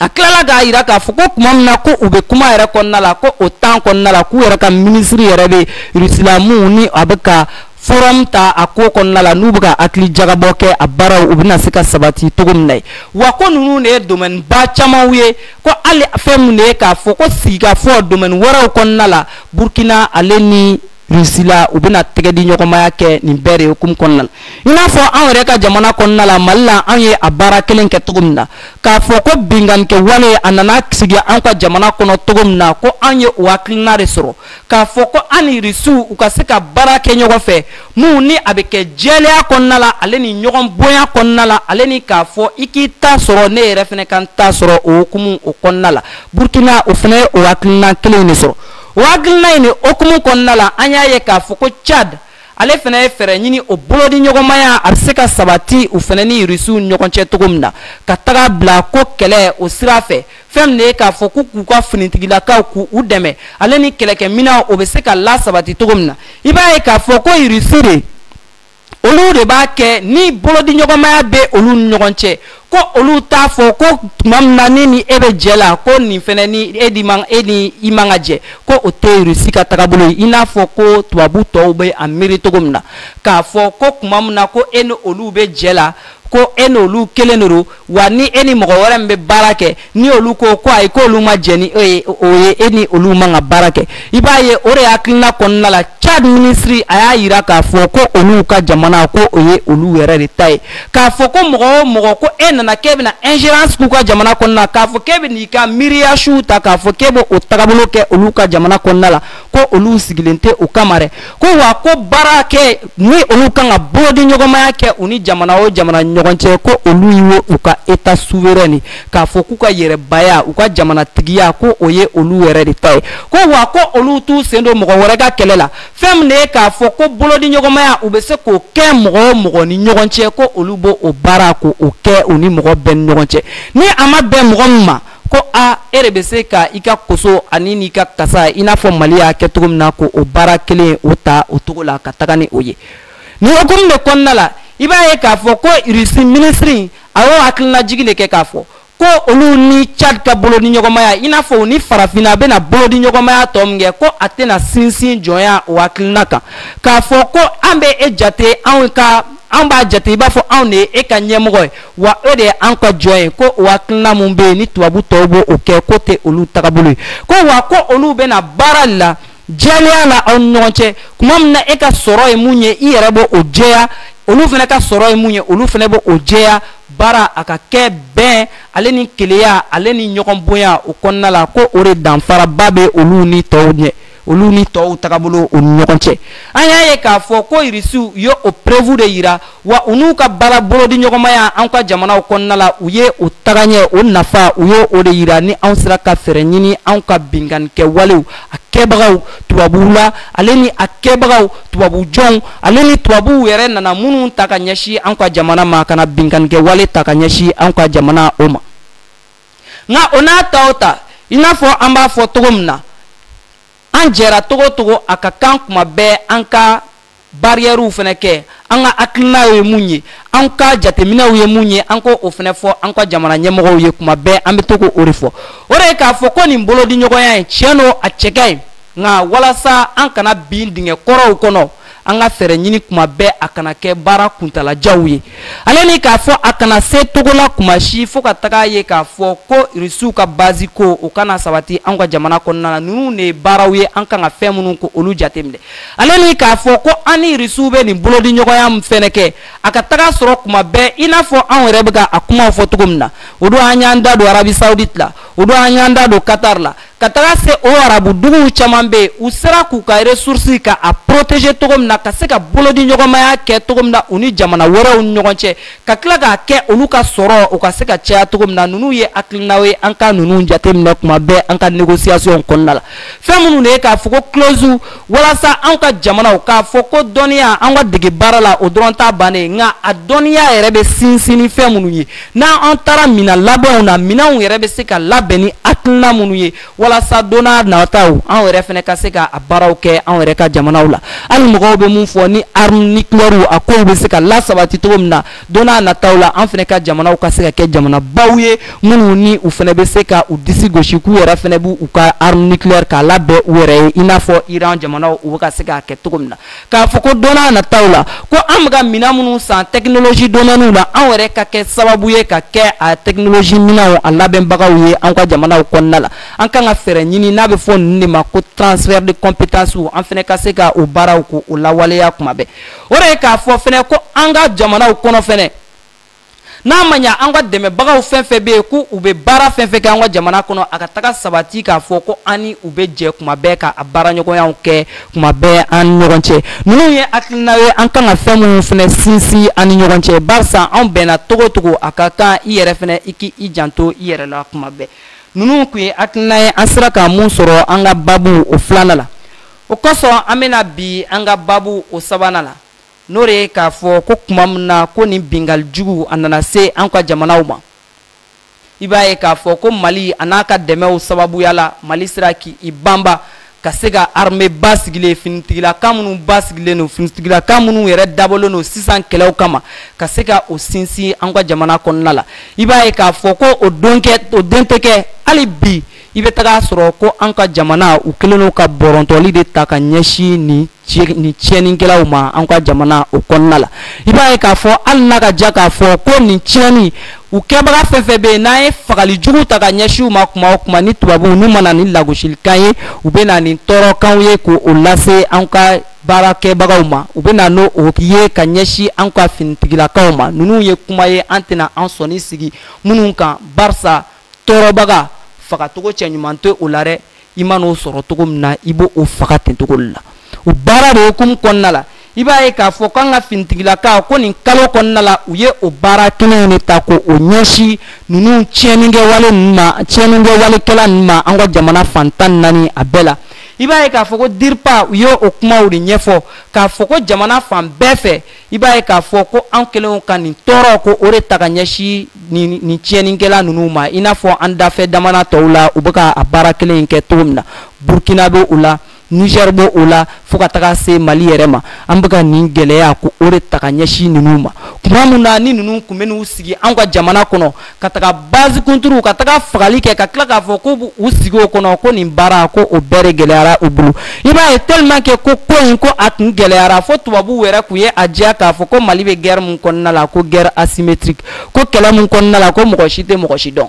a tilala k'a yira k'a fɔ ko tuma min na ko u bɛ kuma yɛrɛ kɔnɔna la ko o temps kɔnɔna la k'u yɛrɛ ka minisiri yɛrɛ bɛ rusi la min ni a bɛ ka forum ta a ko kɔnɔna la n'u bɛ ka hakili jagabɔ kɛ a baaraw u bɛna se ka sabati cogo min na ye wa ko ninnu de ye domaine ba camanw ye ko hali fɛn min de ye k'a fɔ ko sigikafɔ domaine wɛrɛw kɔnɔna la burkina ale ni Russie la u bɛna tɛgɛ di ɲɔgɔnmaya kɛ nin bɛɛ de hukumu kɔnɔna la i n'a fɔ anw yɛrɛ ka jamana kɔnɔna la mali la anw ye a baara kelen kɛ cogo min na k'a fɔ ko binkanni kɛwale a nana sigi anw ka jamana kɔnɔ cogo min na ko anw ye o hakilina de sɔrɔ k'a fɔ ko an ni irisiw u ka se ka baara kɛ ɲɔgɔn fɛ minnu ni a bɛ kɛ jɛlenya kɔnɔna la ale ni ɲɔgɔn bonya kɔnɔna la ale ni k'a fɔ i k'i ta sɔrɔ ne yɛrɛ fana ka n ta sɔrɔ o hukumu o kɔnɔna la burkina o fana ye o hakilina kelen de sɔrɔ o hakilina in hukumu kɔnɔna la an y'a ye k'a fɔ ko Tchad ale fana ye fɛɛrɛ ɲini o bolodi ɲɔgɔnmaya a bɛ se ka sabati u fana ni irisiw ɲɔgɔn cɛ cogo min na ka taga bila ko kɛlɛ o sira fɛ fɛn min de ye k'a fɔ ko k'u ka finitigilakaw k'u dɛmɛ ale ni kɛlɛkɛminɛnw o bɛ se ka lasabati cogo min na i b'a ye k'a fɔ ko irisi de olu de b'a kɛ ni bolodiɲɔgɔnmaya bɛ olu ni ɲɔgɔn cɛ ko olu t'a fɔ ko tuma min na ne ni e bɛ jɛ la ko nin fana ni e ni man e ni i man ka jɛ ko o tɛ irisi ka tagabolo ye i n'a fɔ ko tubabu tɔw bɛ a miiri cogo min na k'a fɔ ko tuma min na ko e ni olu bɛ jɛ la ko e n'olu kelen de don wa ni e ni mɔgɔ wɛrɛ min bɛ baara kɛ ni olu ko ko ayi k'olu ma jɛn ni o ye e ni olu man ka baara kɛ i b'a ye o de hakilina kɔnɔna la Tchad minisiri a y'a yira k'a fɔ ko olu ka jamana ko o ye olu yɛrɛ de ta ye k'a fɔ ko mɔgɔ o mɔgɔ ko e nana k'e bɛna ingérence k'u ka jamana kɔnɔna la k'a fɔ k'e bɛna i ka miiriya suw ta k'a fɔ k'e bɛ o tagabolo kɛ olu ka jamana kɔnɔna la ko olu sigilen tɛ o kama dɛ ko wa ko baara kɛ ni olu kan ka bolodi ɲɔgɔnmaya kɛ u ni jamana o jamana ɲɔgɔn cɛ ko olu ye u ka état souverain k'a fɔ k'u ka yɛrɛbaya u ka jamana tigiya ko o ye olu yɛrɛ de ta ye ko wa ko olu t'u sen don mɔgɔ wɛrɛ ka kɛlɛ la fɛn min de ye k'a fɔ ko bolodi ɲɔgɔnmaya u bɛ se k'o kɛ mɔgɔ o mɔgɔ ni ɲɔgɔn cɛ ko olu b'o o baara ko o kɛ u ni mɔgɔ bɛɛ ni ɲɔgɔn cɛ ni a ma bɛn mɔgɔ min ma ko a e de bɛ se ka i ka koso ani n'i ka kasa i n'a fɔ mali y'a kɛ cogo min na ko o baara kelen o ta o cogo la ka taga ni o ye nin hukumu de kɔnɔna la i b'a ye k'a fɔ ko irisi minisiri a y'o hakilinajigi de kɛ k'a fɔ ko olu ni tchad ka bolodi ɲɔgɔnmaya i n'a fɔ u ni farafinna a bɛna bolodi ɲɔgɔnmaya tɔ min kɛ ko a tɛna sinsin jɔnya o hakilina kan k'a fɔ ko an bɛ e jate anw b'a jate i b'a fɔ anw de ye e ka ɲɛmɔgɔ ye wa e de ye an ka jɔn ye ko o hakilina min bɛ yen ni tubabu tɔw b'o o kɛ ko tɛ olu tagabolo ye ko wa ko olu bɛna baara de la jɛlenya la aw ni ɲɔgɔn cɛ kuma min na e ka sɔrɔ ye mun ye i yɛrɛ b'o o jɛya olu fana ka sɔrɔ ye mun ye olu fana b'o o jɛya baara a ka kɛ bɛn ale ni kelenya ale ni ɲɔgɔn bonya o kɔnɔna la ko o de danfaraba bɛ olu ni tɔw ɲɛ olu ni tɔw tagabolo o ni ɲɔgɔn cɛ an y'a ye k'a fɔ ko irisiw ye o preuve de yira wa u n'u ka baara bolodi ɲɔgɔnmaya an ka jamanaw kɔnɔna la u ye o tagaɲɛ o nafa u ye o de yira ni anw sera ka fɛɛrɛ ɲini anw ka binkanikɛ walew a kɛbagaw tubabuw la ale ni a kɛbagaw tubabu jɔnw ale ni tubabuw yɛrɛ nana minnu ta ka ɲɛsin anw ka jamana ma ka na binkanikɛ wale ta ka ɲɛsin anw ka jamana o ma nka o n'a ta o ta i n'a fɔ an b'a fɔ cogo min na an jɛra togo togo a ka kan kuma bɛɛ an ka bariyɛriw fana kɛ an ka hakilinaw ye mun ye an ka jateminɛw ye mun ye an k'o o fɛnɛ fɔ an ka jamana ɲɛmɔgɔw ye kuma bɛɛ an bɛ to k'o de fɔ o de ye k'a fɔ ko nin bolodiɲɔgɔnya in tiɲɛ don a cɛ ka ɲi nka walasa an kana bin dingɛ kɔrɔw kɔnɔ an ka fɛɛrɛ ɲini kuma bɛɛ a kana kɛ baara kuntalajanw ye ale ni k'a fɔ a kana se togo la kuma si fo ka taga ye k'a fɔ ko irisiw ka bazi ko o kana sabati an ka jamana kɔnɔna na ninnu de ye baaraw ye an kan ka fɛn minnu ko olu jateminɛ ale ni k'a fɔ ko an ni irisiw bɛ nin bolodiɲɔgɔnya min fɛnɛ kɛ a ka taga sɔrɔ kuma bɛɛ i n'a fɔ anw yɛrɛ bɛ ka a kumaw fɔ cogo min na o don an y'an da don arabie saoudite la o don an y'an da don qatar la ka taga se o arabu duguw caman bɛ yen u sera k'u ka resursi ka a protéger cogo min na ka se ka bolodi ɲɔgɔnmaya kɛ cogo min na u ni jamana wɛrɛw ni ɲɔgɔn cɛ ka tila k'a kɛ olu ka sɔrɔ u ka se ka caya cogo min na ninnu ye hakilinaw ye an ka ninnu jateminɛ kuma bɛɛ an ka negosiyasiɔn kɔnɔna la fɛn minnu de ye k'a fɔ ko kilosiw walasa an ka jamanaw k'a fɔ ko dɔnniya an ka dege baara la o dɔrɔn t'a bannen nka a dɔnniya yɛrɛ bɛ sinsin ni fɛn minnu ye n'an an taara minɛn labɛnw na minɛnw yɛrɛ bɛ se ka labɛn ni hakilina minnu ye walasa don n'a nataw an yɛrɛ fɛnɛ ka se ka a baaraw kɛ an yɛrɛ ka jamanaw la hali mɔgɔw bɛ mun fɔ ni arme nucléaire a kow bɛ se ka lasabati cogo min na don n'a nataw la an fɛnɛ ka jamanaw ka se ka kɛ jamanabaw ye minnu ni u fɛnɛ bɛ se ka u disi gosi k'u yɛrɛ fɛnɛ b'u ka arme nucléaire k'a labɛn u yɛrɛ ye i n'a fɔ Iran jamanaw u bɛ ka se k'a kɛ cogo min na k'a fɔ ko don n'a nataw la ko an bɛ ka minɛn minnu san tɛkinoloji domɛniw la an yɛrɛ ka kɛ sababu ye ka kɛ a tɛkinoloji minɛnw a labɛnbagaw ye an ka jamanaw kɔnɔna la an kan ka fɛɛrɛ ɲini n'a bɛ fɔ ninnu de ma ko transfert de compétence an fɛnɛ ka se ka o baaraw k'o lawaleya kuma bɛɛ o de ye k'a fɔ fɛnɛ ko an ka jamanaw kɔnɔ fɛnɛ n'a ma ɲa an ka dɛmɛbagaw fɛn fɛn bɛ yen ko u bɛ baara fɛn fɛn kɛ an ka jamana kɔnɔ a ka taga sabati k'a fɔ ko an ni u bɛ jɛ kuma bɛɛ ka a baaraɲɔgɔnyaw kɛ kuma bɛɛ an ni ɲɔgɔn cɛ ninnu ye hakilina ye an kan ka fɛn minnu fɛnɛ sinsin an ni ɲɔgɔn cɛ barisa an bɛnna cogo cogo a ka kan i yɛrɛ fɛnɛ i k'i janto i yɛrɛ la kuma bɛɛ ninnu kun ye hakilina ye an sera ka mun sɔrɔ an ka baabu o filanan la o kosɔn an bɛna bin an ka baabu o sabanan la n'o de ye k'a fɔ ko kuma min na ko nin bingali jugu a nana se an ka jamanaw ma i b'a ye k'a fɔ ko mali a n'a ka dɛmɛw sababuya la mali sera k'i banba ka se ka armée basigilen finitigilaka minnu basigilen don finitigilaka minnu yɛrɛ dabɔlen don sisan kɛlɛw kama ka se ka o sinsin an ka jamana kɔnɔna la i b'a ye k'a fɔ ko o den tɛ kɛ hali bi i bɛ taga sɔrɔ ko an ka jamana u kɛlen don ka bɔrɔntɔli de ta ka ɲɛsin nin ni tiɲɛnikɛlaw ma an ka jamana o kɔnɔna la i b'a ye k'a fɔ hali n'a ka ja k'a fɔ ko nin tiɲɛni u kɛbaga fɛn fɛn bɛ yen n'an ye fagali jugu ta ka ɲɛsin u ma kuma o kuma ni tubabuw n'u ma na ni lagosilikan ye u bɛ na ni tɔɔrɔkanw ye k'o lase an ka baarakɛbagaw ma u bɛ na n'o ye ka ɲɛsin an ka finitigilakaw ma ninnu ye kuma ye an tɛna an sɔni sigi minnu kan barisa tɔɔrɔbaga fagacogo cɛɲuman tɛ o la dɛ i man'o sɔrɔ cogo min na i b'o faga ten cogo la o baara de hukumu kɔnɔna la i b'a ye k'a fɔ k'an ka finitigilakaw ko nin kalo kɔnɔna la u ye o baara kelen in de ta k'o ɲɛsin ninnu tiɲɛnikɛwale ninnu ma tiɲɛnikɛwalekɛla ninnu ma an ka jamana fan tan naani a bɛɛ la i b'a ye k'a fɔ ko DIRPA u ye o kumaw de ɲɛfɔ k'a fɔ ko jamana fan bɛɛ fɛ i b'a ye k'a fɔ ko an kɛlenw ka nin tɔɔrɔko o de ta ka ɲɛsin nin tiɲɛnikɛla ninnu ma i n'a fɔ an dafɛ jamana tɔw la u bɛ ka a baara kelen in kɛ cogo min na burkina bɛ o la niger bɛ o la fo ka taga se mali yɛrɛ ma an bɛ ka nin gɛlɛyako o de ta ka ɲɛsin ninnu ma kuma min na ni ninnu kun bɛ n'u sigi an ka jamana kɔnɔ ka taga base kunturu ka taga fagali kɛ ka tila k'a fɔ ko u sigi o kɔnɔ ko nin baara ko o bɛɛ de gɛlɛyara u bolo i b'a ye tellement que ko ko in ko a tun gɛlɛyara fo tubabuw yɛrɛ kun ye a jira k'a fɔ ko mali bɛ guerre mun kɔnɔna la ko guerre asymétrique ko kɛlɛ mun kɔnɔna la ko mɔgɔ si tɛ mɔgɔ si dɔn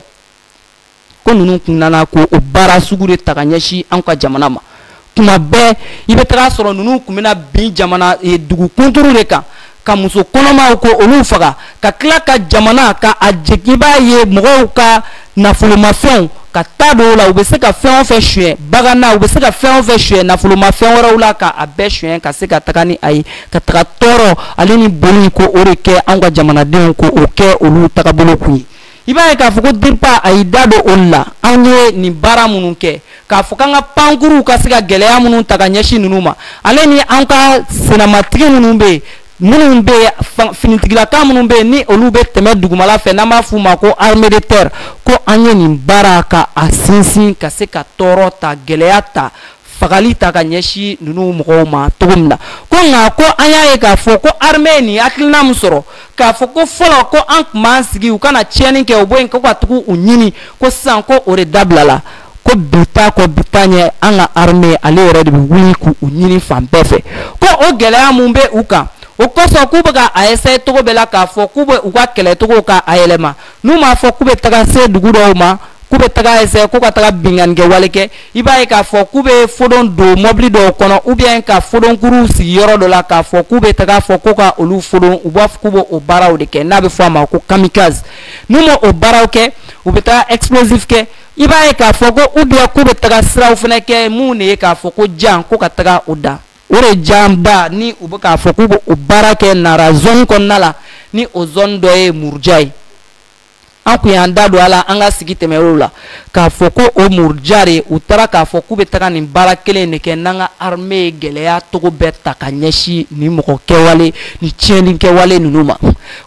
ko ninnu kun nana ko o baara sugu de ta ka ɲɛsin an ka jamana ma kuma bɛɛ i bɛ taga sɔrɔ ninnu kun bɛna bin jamana eh, dugu kunturu de kan ka muso kɔnɔmaw ko olu faga ka tila ka jamana ka a jigin i b'a ye mɔgɔw ka nafolomafɛnw ka ta dɔw la u bɛ se ka fɛn o fɛn suɲɛ bagan na u bɛ se ka fɛn o fɛn suɲɛ nafolomafɛn wɛrɛw la ka a bɛɛ suɲɛ ka se ka taga ni a ye ka taga tɔɔrɔ ale ni bɔnɛ ko o de kɛ anw ka jamanadenw ko o kɛ olu tagabolo kun ye i b'a ye k'a fɔ ko diripa a y'i da don o la an ye nin baara minnu kɛ k'a fɔ k'an ka pankuruw ka se ka gɛlɛya minnu ta ka ɲɛsin ninnu ma ale ni an ka senamatigi minnu bɛ yen minnu bɛ finitigilaka minnu bɛ yen ni olu bɛ tɛmɛ dugumala fɛ n'an b'a f'u ma ko armée de terre ko an ye nin baara ka a sinsin ka se ka tɔɔrɔ ta gɛlɛya ta fagali ta ka ɲɛsin ninnu mɔgɔw ma cogo min na ko nka ko an y'a ye k'a fɔ ko armée ye nin hakilina min sɔrɔ k'a fɔ ko fɔlɔ ko an tun b'an sigi u ka na tiɲɛni kɛ u bɔ yen kɔ ka tugu u ɲini ko sisan ko o de dabilala ko bi t'a kɔ bi t'a ɲɛ an ka armée ale yɛrɛ de bɛ wuli k'u ɲini fan bɛɛ fɛ ko o gɛlɛya mun bɛ u kan o kosɔn k'u bɛ ka a essayer cogo bɛɛ la k'a fɔ k'u bɛ u ka kɛlɛcogo ka a yɛlɛma n'u m'a fɔ k'u bɛ taga se dugu dɔw ma k'u bɛ taga essayer ko ka taga binkanni kɛwale kɛ i b'a ye k'a fɔ k'u bɛ fodon don mɔbili dɔw kɔnɔ ou bien ka fodonkuruw sigi yɔrɔ dɔ la k'a fɔ k'u bɛ taga fɔ ko ka olu fodon u b'a fɔ k'u b'o o baaraw de kɛ n'a bɛ fɔ a ma ko kamikaze n'u ma o baaraw kɛ u bɛ taga explosif kɛ i b'a ye k'a fɔ ko ou bien k'u bɛ taga siraw fana kɛ mun de ye k'a fɔ ko jan ko ka taga o da o de jan da ni u bɛ k'a fɔ k'u bɛ o baara kɛ nara zone kɔnɔna la ni o zone dɔ ye muruja ye an kun y'an da don a la an ka sigi tɛmɛnenw la k'a fɔ ko o muruja de u taara k'a fɔ k'u bɛ taga nin baara kelen de kɛ n'an ka armée ye gɛlɛya cogo bɛɛ ta ka ɲɛsin nin mɔgɔ kɛwale ni tiɲɛni kɛwale ninnu ma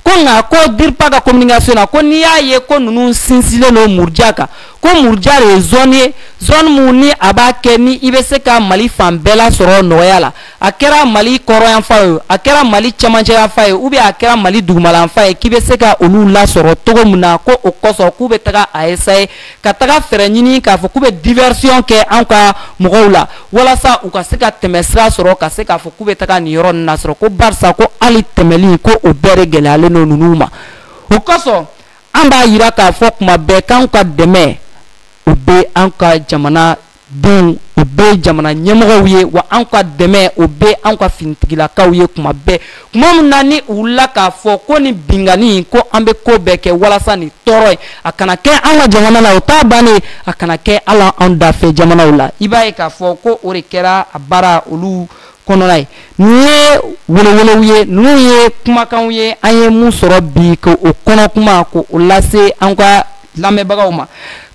ko nka ko diripa ka communication na ko n'i y'a ye ko ninnu sinsinlen don muruja kan ko muruja de ye zone ye zone mun ni a b'a kɛ ni i bɛ se ka mali fan bɛɛ lasɔrɔ nɔgɔya la a kɛra mali kɔrɔnyanfan ye a kɛra mali cɛmancɛyanfan ye ou bien a kɛra mali dugumalayanfan ye k'i bɛ se ka olu lasɔrɔ cogo min na ko o kosɔn k'u bɛ taga a essayer ka taga fɛɛrɛ ɲini k'a fɔ k'u bɛ diversion kɛ an ka mɔgɔw la walasa u ka se ka tɛmɛsira sɔrɔ ka se k'a fɔ k'u bɛ taga nin yɔrɔ ninnu nasɔrɔ ko barisa ko hali tɛmɛli ko o bɛɛ de gɛlɛyalen don ninnu ma o kosɔn an b'a yira k'a fɔ kuma bɛɛ k'anw ka dɛmɛ o bɛ an ka jamana denw o bɛ jamana ɲɛmɔgɔw ye wa anw ka dɛmɛ o bɛ anw ka finitigilakaw ye kuma bɛɛ kuma min na ni u wulila k'a fɔ ko nin binkanni in ko an bɛ ko bɛɛ kɛ walasa nin tɔɔrɔ in a kana kɛ an ka jamana la o t'a bannen a kana kɛ hali anw dafɛ jamanaw la i b'a ye k'a fɔ ko o de kɛra a baara olu kɔnɔna ye ninnu ye welewelew ye ninnu ye kumakanw ye an ye mun sɔrɔ bi k'o kɔnɔkuma k'o lase an ka lamɛnbagaw ma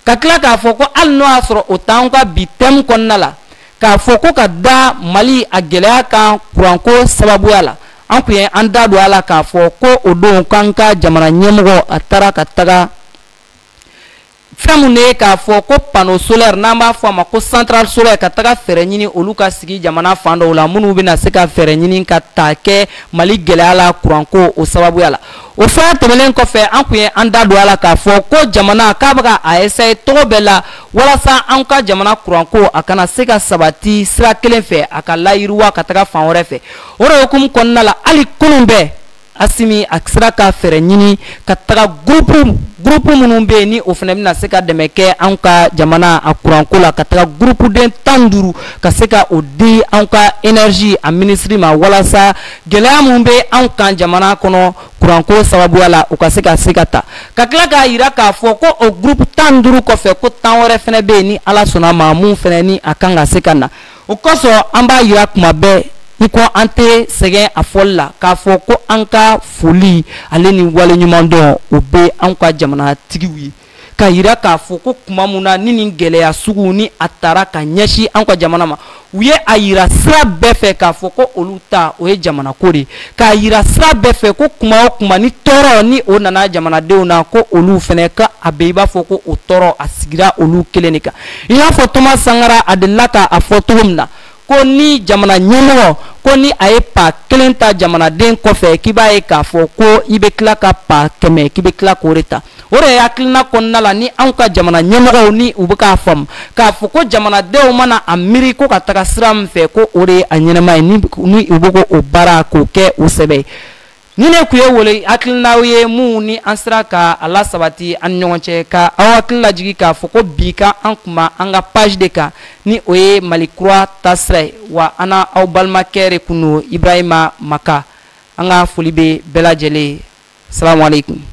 ka tila k'a fɔ ko hali n'o y'a sɔrɔ o t'an ka bi thème kɔnɔna la k'a fɔ ko ka da mali a gɛlɛya kan kuranko sababuya la an kun ye an da don a la k'a fɔ ko o don k'an ka jamana ɲɛmɔgɔ a taara ka taga fɛn mun de ye k'a fɔ ko panneau solaire n'an b'a fɔ a ma ko centrale solaire ka taga fɛɛrɛ ɲini olu ka sigi jamana fan dɔw la minnu bɛna se ka fɛɛrɛ ɲini ka ta kɛ mali gɛlɛya la kuranko o sababuya la o fana tɛmɛnen kɔfɛ an kun ye an da don a la k'a fɔ ko jamana k'a bɛ ka a essayer cogo bɛɛ la walasa an ka jamana kuranko a kana se ka sabati sira kelen fɛ a ka layiriwa ka taga fan wɛrɛ fɛ o de hukumu kɔnɔna la hali kunun bɛɛ Asimi a sera ka fɛɛrɛ ɲini ka taga groupe groupe minnu bɛ yen ni o fana bɛna se ka dɛmɛ kɛ anw ka jamana a kuranko la ka taga groupe den tan ni duuru ka se ka o di anw ka énergie a ministre ma walasa gɛlɛya min bɛ anw kan jamana kɔnɔ kuranko sababuya la o ka se ka se ka ta ka tila k'a yira k'a fɔ ko o groupe tan ni duuru kɔfɛ ko tan wɛrɛ fana bɛ yen ni Ala sɔnna a ma mun fana ni a kan ka se ka na. o kosɔn an b'a yira kuma bɛɛ i ko an tɛ sɛgɛn a fɔli la k'a fɔ ko an ka foli ale ni waleɲumandɔn o bɛ anw ka jamanatigiw ye k'a yira k'a fɔ ko kuma min na ni nin gɛlɛya sugu ni a taara ka ɲɛsin anw ka jamana ma u ye a yira sira bɛɛ fɛ k'a fɔ ko olu ta o ye jamanako de ye k'a yira sira bɛɛ fɛ ko kuma o kuma ni tɔɔrɔ ni o nana jamanadenw na ko olu fana ka a bɛ i b'a fɔ ko o tɔɔrɔ a sigira olu kelen de kan i n'a fɔ Thomas Sankara a delila ka a fɔ cogo min na ko ni jamana ɲɛmɔgɔ ko ni a ye pa kelen ta jamanaden kɔfɛ k'i b'a ye k'a fɔ ko i bɛ tila ka pa kɛmɛ k'i bɛ tila k'o de ta o de ye hakilina kɔnɔna la ni anw ka jamana ɲɛmɔgɔw ni u bɛ k'a faamu k'a fɔ ko jamanadenw mana a miiri ko ka taga sira min fɛ ko o de ye a ɲɛnama ye ni u bɛ ko o baara k'o kɛ o sɛbɛ ye nin de kun ye wele hakilinaw ye mun ni an sera ka a lasabati an ni ɲɔgɔn cɛ ka aw hakili lajigi k'a fɔ ko bi ka an kuma an ka page de kan ni o ye mali kura taasira ye wa an n'aw balimakɛ de kun don ibrahima maka an ka foli bɛ bɛɛ lajɛlen ye salamu aleykum